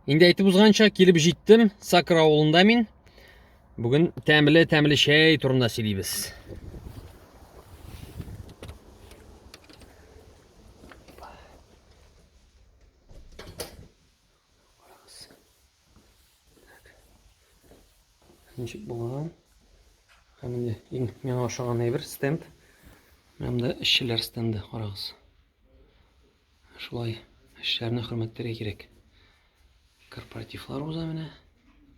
Инде әйтеп узганча, килеп җиттем Сакыр авылында мин. Бүген тәмле тәмле чәй турында сөйлибез. Ничек булган? Һәм инде иң миңа ошаган әйбер стенд. Менә монда эшчеләр стенды, карагыз. Шулай эшләрне хөрмәтләргә кирәк. Корпоративлар уза менә.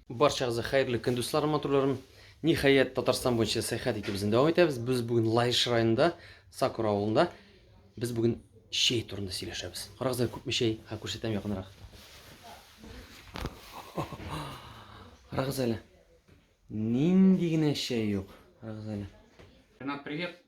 Барчагызга хәерле көн, дусларым, матурларым. Ниһаять, Татарстан буенча сәяхәт итеп безне дәвам итәбез. Без бүген Лаеш районында, Сакура авылында. Без бүген чәй турында сөйләшәбез. Карагызлар, күпме чәй? Ха, күрсәтәм якынрак. Карагыз әле. Нинди генә чәй юк. Карагыз әле. Ренат, привет.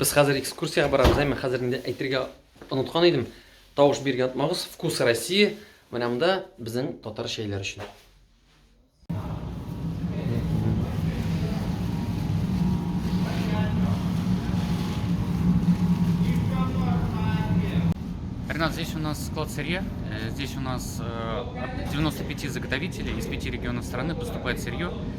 Без хәзер экскурсиягә барабыз, әмма хәзер инде әйтергә оныткан идем. Тавыш бирергә онытмагыз. Вкус России. Менә монда безнең татар чәйләре өчен. Ренат, здесь у нас склад сырья. Э, здесь у нас э, от 95 заготовителей из пяти регионов страны поступает сырье.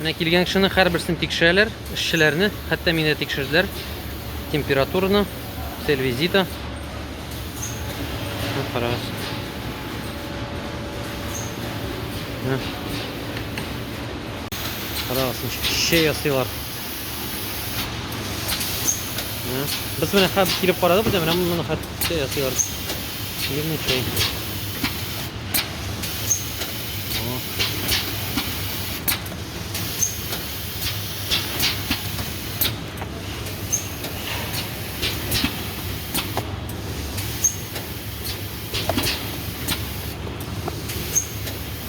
Менә килгән кешенең һәрберсен тикшерәләр, эшчеләрне, хәтта мине тикшерделәр. Температураны, цель визита. Карагыз. Карагыз, шей ясыйлар. Без менә хәп килеп карадык, менә моннан хәп чәй ясыйлар. Шигырьне чәй.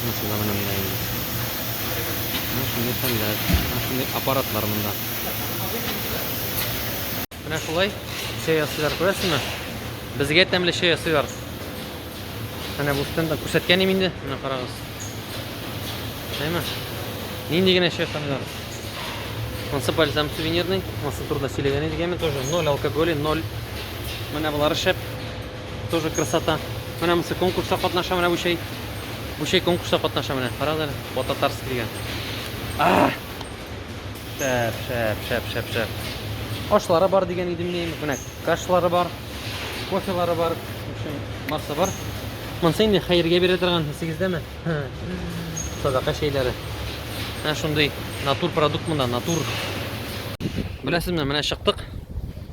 Бизнесы да менә монда инде. Менә шундый хәлләр, менә шундый аппаратлар монда. Менә шулай чәй ясыйлар, күрәсезме? Безгә тәмле чәй ясыйлар. Менә бу стендта күрсәткән идем инде, менә карагыз. Әйме? Нинди генә чәй хәлләр. Мансапаль сам сувенирный, маса турында сөйләгән идек, әйме тоже 0 алкоголь, 0. Менә булар шәп. Тоже красота. Менә монсы конкурста катнаша, менә бу чәй. Бу чәй конкурста катнаша менә. Карагыз әле, Бататарск дигән. А! Шәп, шәп, шәп, шәп, шәп. Ашлары бар дигән идем мин. Менә кашлары бар, кофелары бар. В общем, барсы бар. Монсы инде хәергә бирә торган, исегездәме? Садака чәйләре. Менә шундый натур продукт монда, натур. Беләсезме, менә чыктык.